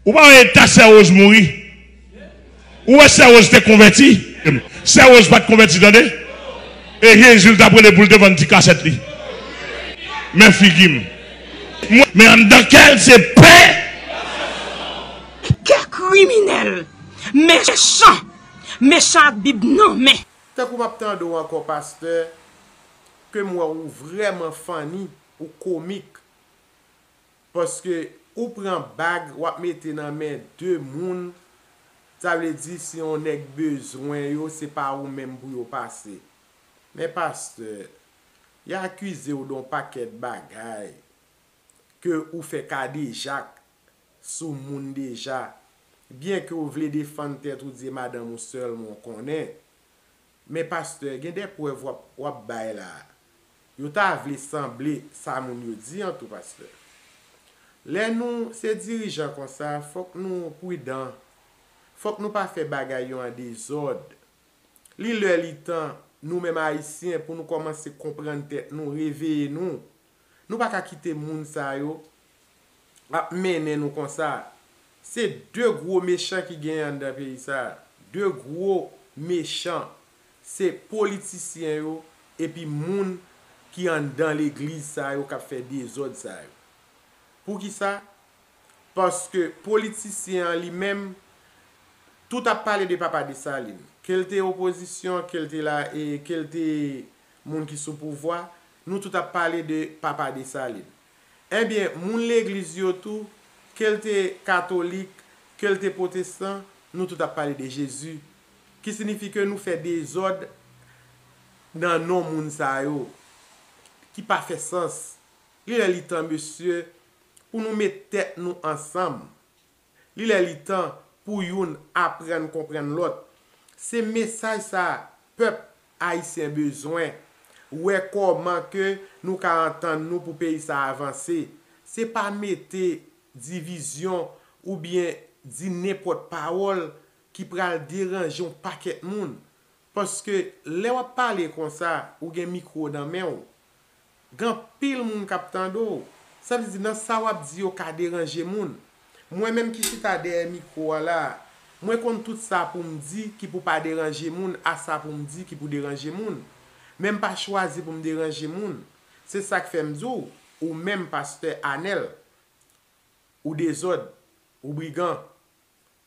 Ou pa wè eta sè Rose mouri? Ou wè sè Rose te konvèti? Sè Rose pat konvèti tande. E Jezi l tap rele pou l te vann ti kasèt li. Men figi m. Men anndan kè l se pen. Kè kriminèl, mechan, mechan ak bib nan men. Tankou map tande w ankò pastè kem wè ou vrèman funny ou komik. Paske ou pran bag wap mete nan men de moun sa vle di si yon nèg bezwen yo se pa ou menm pou yo pase men pastè ya akizew don pakèt bagay ke ou fè kadejak sou moun deja byen ke ou vle defann tèt ou di e madanm ou sèlman ou konnen Men pastè gen de prèv wap wap bay la yo ta vle sanble sa moun yo di an tou pastè lè nou se dirijan konsa fòk nou prudan fòk nou pa fè bagay yo an dezòd li lè li tan nou menm ayisyen pou nou kòmanse konprann tèt nou reveye nou Nou pa ka kite moun sa yo ap mennen nou konsa. Se 2 gwo mechan ki genyen anndan peyi sa. 2 gwo mechan. Se politisyen yo epi moun ki anndan legliz sa yo k ap fè dezòd sa yo. Poukisa? Paske politisyen an li menm, tout ap pale de Papa Desalin. Ke l te opozisyon, ke l te la, ke l te moun ki sou pouvwa, Nou tout ap pale de papa Dessalines. Ebyen, moun legliz yo tou, ke l te katolik, ke l te pwotestan, nou tout ap pale de Jezi. Ki sinifi ke nou fè dezòd nan non moun sa yo, ki pa fè sans. Li lè li tan mesye, pou nou met tèt nou ansanm. Li lè li tan pou youn aprann konprann lòt. Se mesaj sa pèp Ayisyen bezwen. Wè kòman ke nou ka antann nou pou peyi sa avanse. Se pa mete divizyon ou byen di nenpòt pawòl ki pral deranje yon pakèt moun. Paske lè wap pale konsa ou gen mikwo nan menw. Gen anpil moun k ap tande w. Sa vle di nan sa w ap di yo ka deranje moun. Mwen menm ki chita dèyè mikwo a la a, mwen konn tout sa pou m di ki pou pa deranje moun a sa pou m di ki pou deranje moun. Men m pa chwazi pou m deranje moun. Se sa k fè m di w, ou menm pastè Anèl, ou dezòd, ou brigan,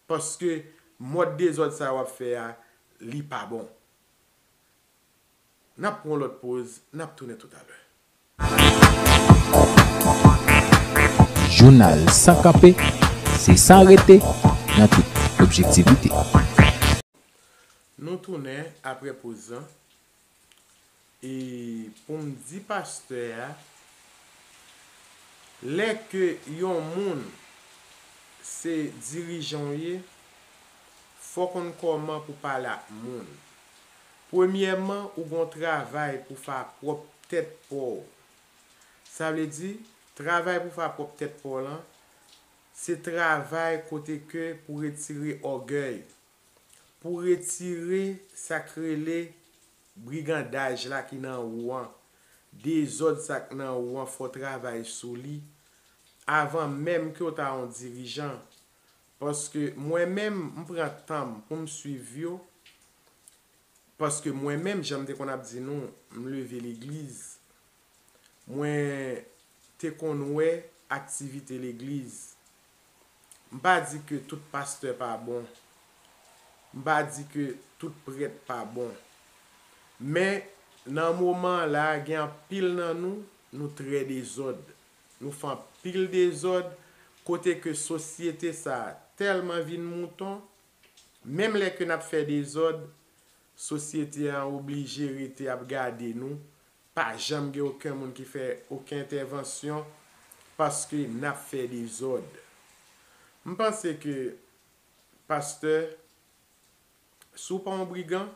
paske mòd dezòd sa a w ap fè a, li pa bon. N ap pran yon lòt poz, n ap tounen toutalè. Jounal san kanpe, se san rete, nan tout objektivite. Nou tounen apre poz lan, e pou m di pastè a, lè ke yon moun se dirijan w ye, fò w konn kòman pou pale ak moun. Premyèman ou gon travay pou fa pwòp tèt paw. Sa vle di, travay pou fa pwòp tèt paw lan, se travay kote ke pou retire ògèy, pou retire sak rele brigandaj la ki nan ou an, dezòd sak nan ou an fò travay sou li avan menm kew ta on dirijan, Paske mwen menm m pran tanm poum swiv yo paske mwen menm janm te konn ap di nou m leve legliz mwen te konn wè aktivite legliz m pa di ke tout pastè pa bon m pa di ke tout prèt pa bon men nan moman la gen anpil nan nou nou trè dezòd Nou fè anpil dezòd kote ke sosyete sa tèlman vin mouton, menm lè ke nap fè dezòd, sosyete an oblije rete ap gade nou, pa janm gen oken moun ki fè oken entèvansyon paske nap fè dezòd. M panse ke pastè. Si w pa yon brigan,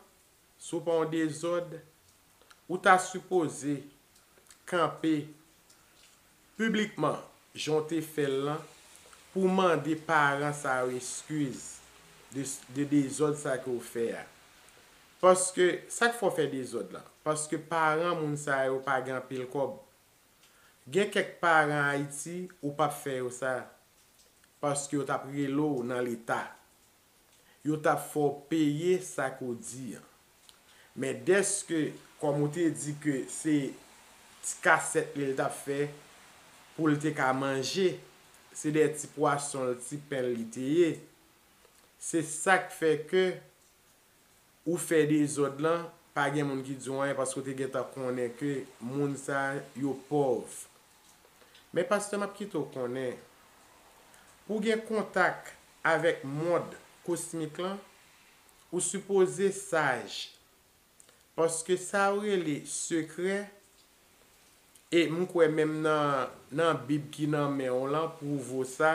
si w pa yon dezòd, ou ta sipoze kanpe piblikman jan w te fè l lan pou w mande paran sa yo eskiz de dezòd sa ke w fè a. Paske, sa k fè w fè dezòd lan? Paske paran moun sa yo pa gen anpil kòb. Gen kèk paran Ayiti ou pap fè yo sa. Paske yo tap rele w nan leta. yo t ap fè w peye sa ke w di an. Men dèske, kòm ou te di ke se ti kasèt li l t ap fè pou l te ka manje, se de ti pwason l, ti pen l li te ye, se sa k fè ke ou fè dezòd lan pa gen moun ki di w anyen paske w te gentan konnen ke moun sa yo pòv. Men pastè map kite w konnen pou w gen kontak avèk mond kosmik lan ou sipoze saj paske sa yo rele sekrè E m kwè menm nan nan Bib ki nan men w lan pwouvo sa,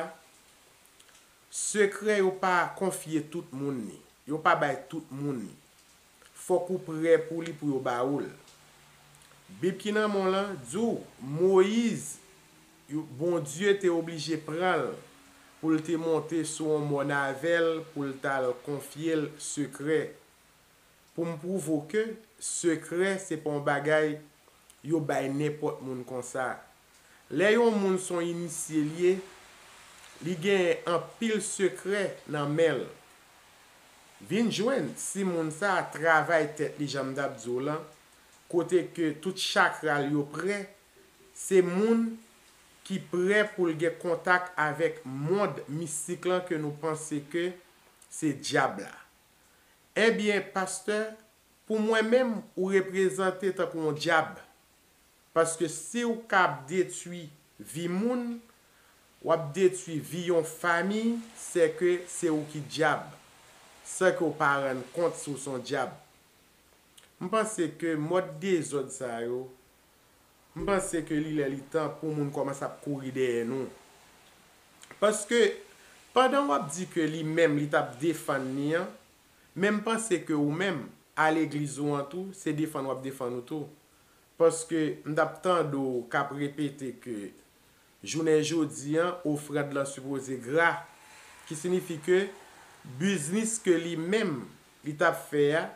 sekrè yo pa konfye tout moun li. Yo pa bay tout moun li. Fòk ou prè pou li pou yo ba ou l. Bib ki nan men w lan di w Moyiz, Bondye te oblije pran l pou l te monte sou yon mòn avè l pou l t al konfye l sekrè Pou m pwouve w ke sekrè se pa yon bagay yo bay nenpòt moun konsa. Lè yon moun s on inisye l ye, li genyen anpil sekrè nan men l. Vin jwenn si moun sa a travay tèt li jan m t ap di w lan, kote ke tout chakra l yo prè, se moun ki prè pou l gen kontak avèk mond mistik lan ke nou panse ke se dyab la. Ebyen pastè pou mwen menm ou reprezante tankou yon dyab paske siw ka ap detwi vi moun wap detwi vi yon fami sèke se ou ki dyab san ke ou pa rann kont si w son dyab m panse ke mòd dezòd sa yo M panse ke li lè li tan pou moun kòmanse ap kouri dèyè nou. Paske, pandan w ap di ke li menm li t ap defann ni an, men m panse ke ou menm, a legliz ou an tou, se defann w ap defann ou tou. Paske, m t ap tande w k ap repete ke jounen jodi an, ofrand lan sipoze gra. Ki sinifi ke, biznis ke li menm li t ap fè a,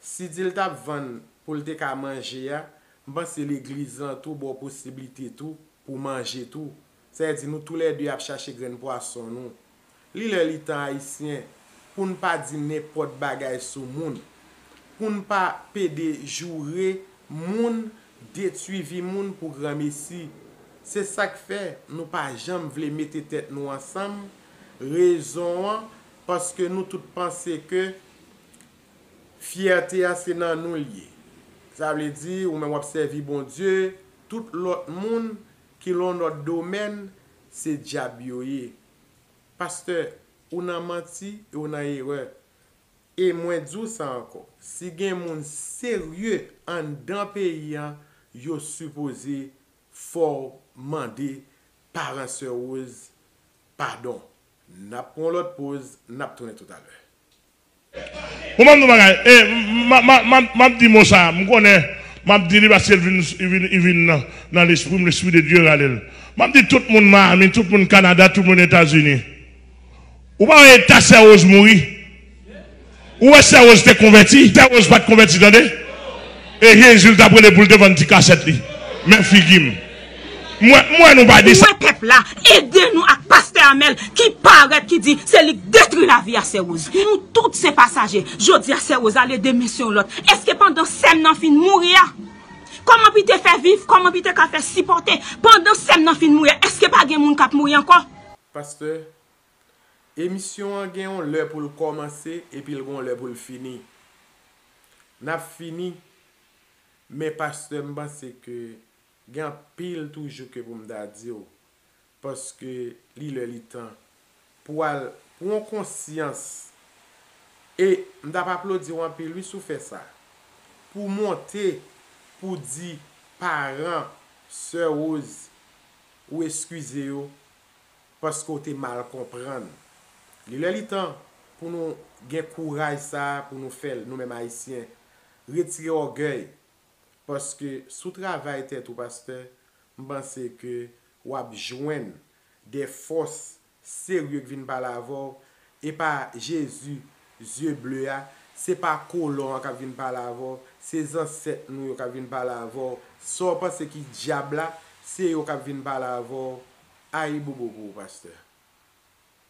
Si dil tap vann poul te ka manje a m panse legliz lan tou baw posiblite tou pou manje tou sa vle di nou tou lè 2 ap chache grenn pwason nou li lè li tan ayisyen poun pa di nenpòt bagay sou moun poun pa pede joure moun detwi vi moun pou granmesi se sak fè nou pa janm vle mete tèt nou ansanm rezon an paske nou tout panse ke Fyète a se nan nou l ye. Sa vle di ou menm w ap sèvi Bondye, tout lòt moun ki lan yon lòt domèn se dyab yo ye. Pastè, ou nan manti e ou nan erè. E mwen di w sa ankò, si gen moun serye anndan peyi an yo sipoze fò w mande paran Sè Rose padon. N ap pran yon lòt poz, n ap tounen toutalè. Bon banm di w bagay e m ap di mo sa a m konnen m ap di li paske li vin nan lespri m lespri de Dye rale l m ap di tout moun Miami tout moun Canada tout moun Etazini ou pa wè eta sè Rose mouri ou wè sè Rose te konvèti sè Rose pat konvèti tande e Jezi l t ap rele pou l te vann ti kasèt li men figi m. M wè nou pa di sa. M wè pèp la ede nou ak pastè Amel ki parèt ki di se li k detri lavi a sè Rose. Nou tout se pasaje. Jodi a sè Rose ale demen se yon lòt. Eske pandan sèm nan fin mouri a kòman pi te fè viv kòman pi te ka fè sipòte pandan sèm nan fin mouri a eske pa gen moun kap mouri ankò. Pastè, emisyon an gen yon lè pou l kòmanse epi l gen yon lè pou l fini. N ap fini men pastè m panse ke Gen anpil toujou ke pou m ta di w, paske li lè li tan pou w al pran konsyans, e m t ap aplodi w anpil wi si w fè sa, pou w monte pou w di paran sè Rose ou eskize yo paske w te mal konprann. Li lè li tan pou nou gen kouraj sa a pou nou fè l, nou menm Ayisyen, retire ògèy paske si w travay tèt ou pastè m panse ke w ap jwenn de fòs serye k vin pale avè w e pa Jezi zye ble a se pa kolon an k ap vin pale avè w se zansèt nou yo k ap vin pale avè w sa w panse ki dyab la se yo k ap vin pale avè w ayibobo pou ou pastè.